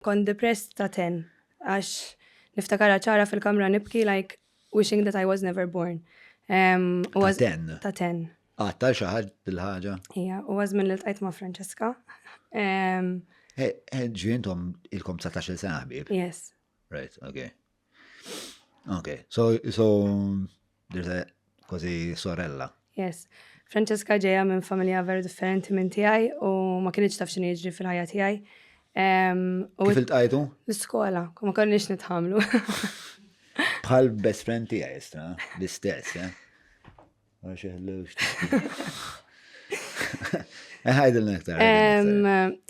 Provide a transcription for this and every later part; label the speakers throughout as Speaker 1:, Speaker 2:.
Speaker 1: Kont depressed ta' ten għax niftakarha ċara fil-kamra nibki like wishing that I was never born. Ta'
Speaker 2: ten? Ta' ten. Għatta
Speaker 1: xi ħadd
Speaker 2: dil-ħaġa? Ija, u għażmin li
Speaker 1: ltqajt ma' Francesca.
Speaker 2: Ġientom ilkom 19 sena ħbib? Yes. Right,
Speaker 1: okay.
Speaker 2: Okay, so, so There's a kważi sorella. Yes.
Speaker 1: Francesca ġeja minn familja veru differenti minn tiegħi u ma kienx taf x'inhi jiġri fil-ħajja tiegħi.
Speaker 2: Kif iltqajtu? L-iskola, ma
Speaker 1: konniex nitħamlu.
Speaker 2: Bħal best friend tiegħi istra, l-istess, eh? Ħajdil nektar.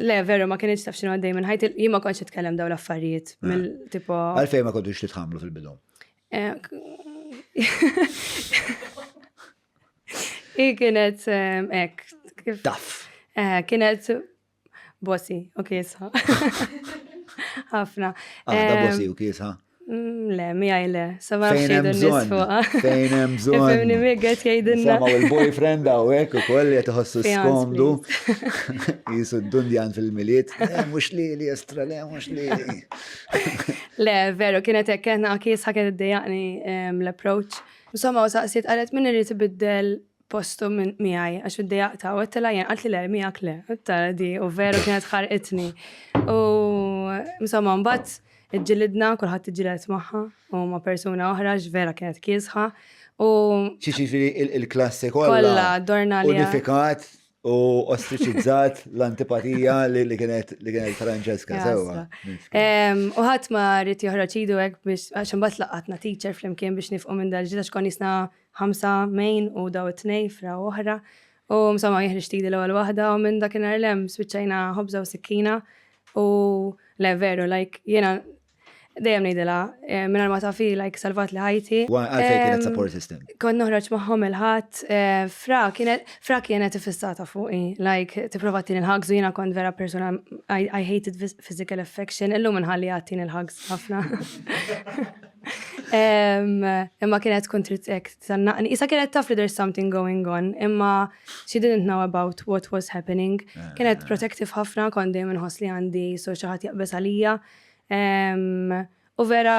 Speaker 2: Le,
Speaker 1: veru, ma kienieċ taf xinu għaddej minn ħajt, jien ma konċ nitkellem daw l-affarijiet. Għalfej ma kontux
Speaker 2: titħamlu fil-bidu.
Speaker 1: I kienet ek. Taf.
Speaker 2: Eh, kienet
Speaker 1: bossi u kiesa. Ħafna. Għada
Speaker 2: ah, bossi u kiesa. Mm, le, mi
Speaker 1: għajle, sama xejdu nisfuqa.
Speaker 2: Fejn hemm bżonn. Fejn mi għet jgħidilna.
Speaker 1: Sama il-boyfriend
Speaker 2: għaw ek u koll jgħet ħossu skomdu. Jisu d-dundjan fil-miliet. Eh, mux li li estra le, mux li.
Speaker 1: Le, veru, kienet hekk kena kies ħaket id-dejaqni ehm, l-approach. Insomma, u saqsiet qalet min irid ibiddel postu minn miegħi għax id-dejaq ta' u għettela jien għalt li le miegħek le. Tara di u veru kienet ħarqitni. U insomma mbagħad iġġilidna kulħadd iġġilet magħha u ma' persuna oħra x'vera kienet kiesħa. U
Speaker 2: Xiġifieri il-klassi kollha. Kollha, dorna
Speaker 1: li- Unifikat U
Speaker 2: ostriċizzat l-antipatija li kienet li kienet Francesca, sewa. U
Speaker 1: ħadd ma rrid joħroġ idu hekk biex għax imbagħad laqatna teacher flimkien biex nifqu minn dal-ġita xkon jisna ħamsa main u daw it-tnej fra oħra. U msomma jihriġ tidi l-ewwel waħda u minn dakinhar lem spiċċajna ħobża u sikkina u le veru like jiena Dejjem ngħidilha, eh, mingħajr ma tafi like salvat li ħajti. Għalfej kienet support
Speaker 2: system. Kont noħroġ magħhom
Speaker 1: il-ħadd, eh, fra kienet fra kienet ifissata fuqi, like tipprova tin il-ħagż u jiena kont vera persuna I, I hated physical affection, illum inħalli għattin il-ħagż ħafna. Imma kienet tkun trid hekk tannaqni. Issa kienet taf li there's something going on, imma she didn't know about what was happening. Eh. Kienet protective ħafna, kont dejjem inħoss li għandi so xi ħadd jaqbeż għalija. U vera,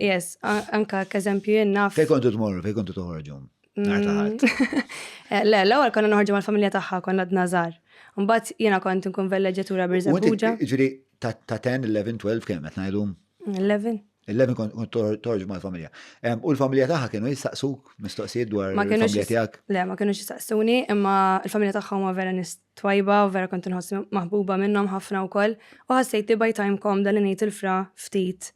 Speaker 1: yes, anka kazempju jenna. Fej kontu t-morru, fej kontu
Speaker 2: t-ħorġu? Mm.
Speaker 1: Eh, le, l għal konna nħorġu mal-familja taħħa, konna d-nazar. Mbatt jena kont nkun velleġatura birza buġa. Ġiri, ta' 10,
Speaker 2: 11, 12, kem, għet najdu? 11. 11
Speaker 1: kont
Speaker 2: torġu mal-familja. U l-familja taħħa kienu jistaqsuk mistoqsijiet dwar il-familja tijak? Le, ma kienu jistaqsuni,
Speaker 1: imma l familja taħħa ma vera nist twajba u vera kont inħossni maħbuba minnhom ħafna wkoll u ħassejt li by time komda li ngħid il-fra ftit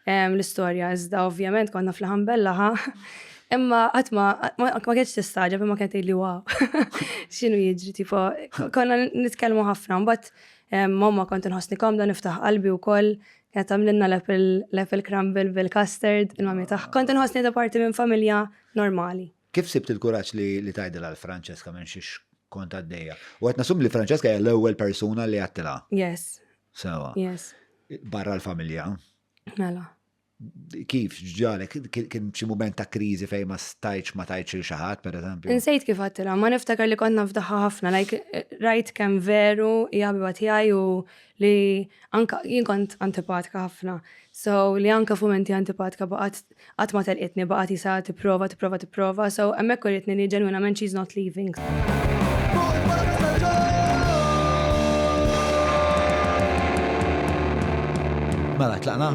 Speaker 1: ehm, l-istorja iżda ovvjament konna fl-ħambella ħa Imma qatt ma ma kienx tistaġab imma kienet li wow. X'inhu jiġri tipo konna nitkellmu ħafna mbagħad ehm, mamma kont inħossni komda niftaħ qalbi wkoll kienet tagħmlilna l-apple crumble bil-custard il-mami taħ. Kont inħossni da parti minn familja normali. Kif sibt il-kuraġġ
Speaker 2: li tgħidilha l Francesca minn xiex kont għaddejja? U qed nasum li Francesca hija l-ewwel persuna li għattilha. Yes.
Speaker 1: Sewa. Yes. Barra l-familja.
Speaker 2: Mela. Kif ġalek kien xi mument ta' kriżi fejn ma stajċ ma tajċ il xi ħadd pereżempju? Insejt kif għattilha, ma
Speaker 1: niftakar li kont nafdaħħa ħafna, like rajt kemm veru hija ħabiba tiegħi u li anka jien kont antipatka ħafna. So li anka f'mumenti antipatka baqgħet Qatt ma telqitni, baqgħet isa tipprova, tipprova, tipprova, so hemmhekk uritni li ġenwinament she's not leaving.
Speaker 2: Mela, tlaqna?